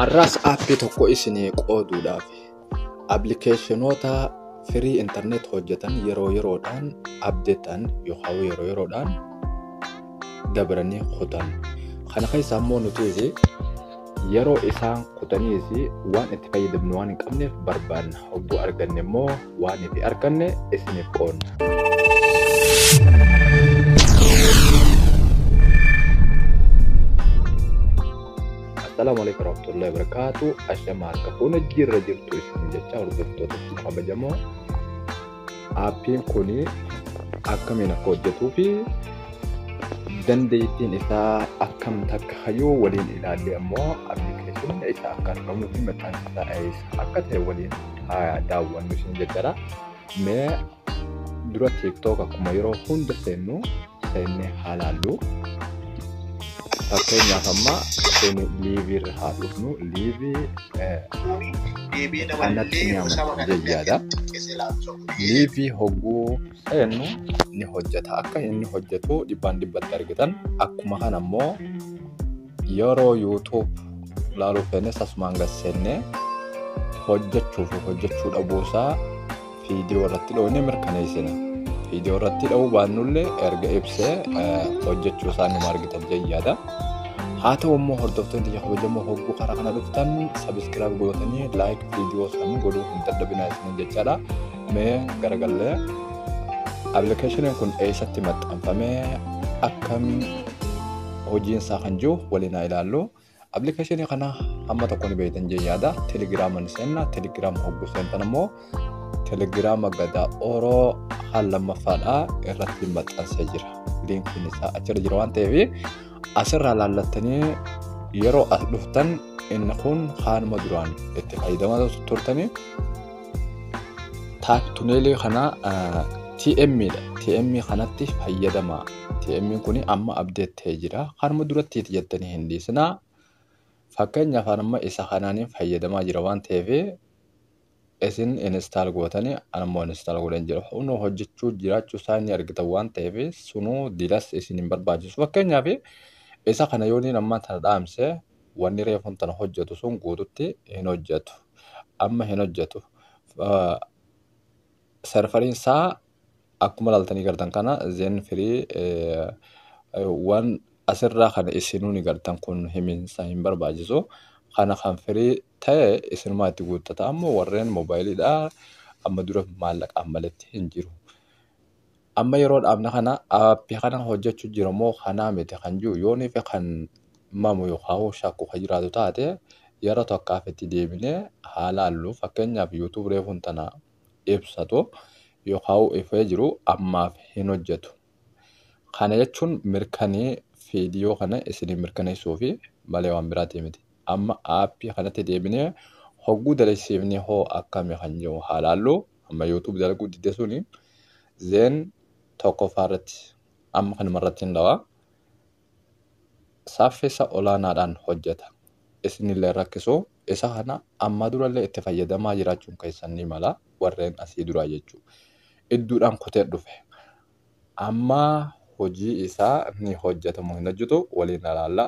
Arraas aappii tokko isinii qooduudhaaf appilikeeshinoota firii intarneet hojjetan yeroo yeroodhaan abdeetan yookaan yeroo yeroodhaan dabranii kutan. Kana keessaa immoo nuti yeroo isaan kutaniis waan itti fayyadamnu waan hin qabneef barbaanna. Hogguu arganne immoo waan itti arganne isiniif qoonna. Assalaamu alaikum warahmatullahi wabarakatuh. Ashama akka fuuna jirra jirtu isin jecha hordoftoota fi kabajamoo. Aappiin kun akkamiin akka hojjetuu fi dandeettiin isaa akkam takka hayyuu waliin ilaallee ammoo appilikeeshiniin isaa akka argamuu fi maqaan isaa eessa akka ta'e waliin haa daawwannu isin jajjara. Mee dura TikTok akkuma yeroo hunda seennu seennee haa laallu. Fakkeenyaaf amma seeni liivii irra haa dhufnu. Liivii kanatti ni amanna jayyaadha. Liivii hogguu seennu ni hojjeta. Akka inni hojjetu dhibbaan dhibbatti argitan. Akkuma kana immoo Yeroo YouTube laaluu feenes asumaan gad seennee hojjechuu fi hojjechuu dhabuu isaa viidiyoo irratti dhoofnee mirkaneessina. Viidiyoo irratti dha'uu baannullee erga ibsee hojjechuu isaa numa argitan jayyaadha. Haa ta'u immoo hordoftoonni ija kabajamoo hogguu karaa kana dhuftan sabiskiraayib gootanii laayik viidiyoo isaanii godhuu hin dadhabinaa isiniin jechaadha. mee garagallee appilikeeshiniin kun eessatti maxxanfamee akkam hojiin isaa kan jiru waliin haa ilaallu. Appilikeeshinii kana hamma tokko ni beektan jee yaada. Telegiraama ni seenna. Telegiraama hogguu seentan immoo telegiraama gadaa oroo haal lammaffaadha irratti maxxansee jira. Liinkiin isaa achirra jira waan ta'eef Asirraa laallattanii yeroo as dhuftan inni kun haanuma duraan itti fayyadamaa turtanii taak tuneelii kana TM dha. TM kanatti fayyadama. TM kun amma abdeet ta'ee jira. Kanuma duratti itti jettanii hin dhiisinaa. Fakkeenyaaf amma isa kanaan fayyadamaa jira waan ta'eef Isin install gootani an immoo uninstall godheen jira. Kunoo hojjechuu jiraachuu isaa ni argitan waan ta'eef sunuu dilas isin hin barbaachisu. Fakkeenyaaf isa kana yoo niin ammaan tana dhaamse wanni reefuun tana hojjetu sun guututti hin hojjetu. Amma hin hojjetu. Ah, Serveriin isaa akkuma ilaaltanii gartan kana zen firii eh, eh, waan asirraa kana isinuu ni gartan kun himiinsa hin barbaachisu. Kana kan firii ta'e isinumaa itti guuttata. Ammoo warreen mobaayiliidha amma dura maallaqaan maletti hin jiru. Amma yeroo dhaabna kana aappi kana hojjechu jira moo kanaa miti kan jiru yoonii fi kan mamu yookaan shakku kan jiraatu taate yeroo tokkaaf itti deebinee haa laallu fakkeenyaaf yuutuub reefuun tana ibsatu yookaan ifee jiru ammaaf hin hojjetu. Kana jechuun mirkanee viidiyoo kana isinii mirkaneessuufi malee waan biraatii miti. Amma aappii kanatti deebinee hogguu dalagsiifne hoo akkami kan jiru haa laallu. Amma YouTube dalaguu didde suni zeen tokkoffaa irratti amma kanuma irratti hin dhawa. Saaffisa olaanaadhaan hojjeta. Isinillee rakkisoo isa kana ammaa durallee itti fayyadamaa jiraachuun keessan ni mala, warreen asii duraa jechuu. Idduudhaan kutee dhufe. Amma hojii isaa ni hojjeta moo hin hojjetu waliin ilaalla.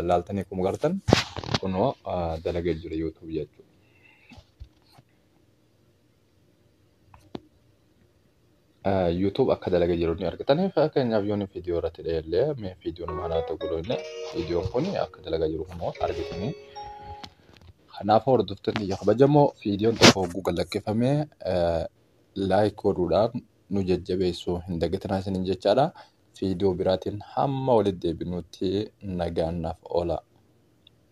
Laaltanii akkuma gartan kunoo dalagee jira YouTube jechuudha. YouTube akka dalaga jiru ni argitan. Fakkeenyaaf yoon viidiyoo irratti dheellee mee viidiyoon maal haa ta'u godhu illee viidiyoon kun akka dalaga jiru immoo argitanii. Kanaafuu hordoftoonni biyya kabajamoo viidiyoon tokko hogguu gad lakkifamee laayik godhuudhaan nu jajjabeessuu hin dagatinaa isiniin jechaadha. Viidiyoo biraatiin hamma walitti deebinutti nagaan naaf oola.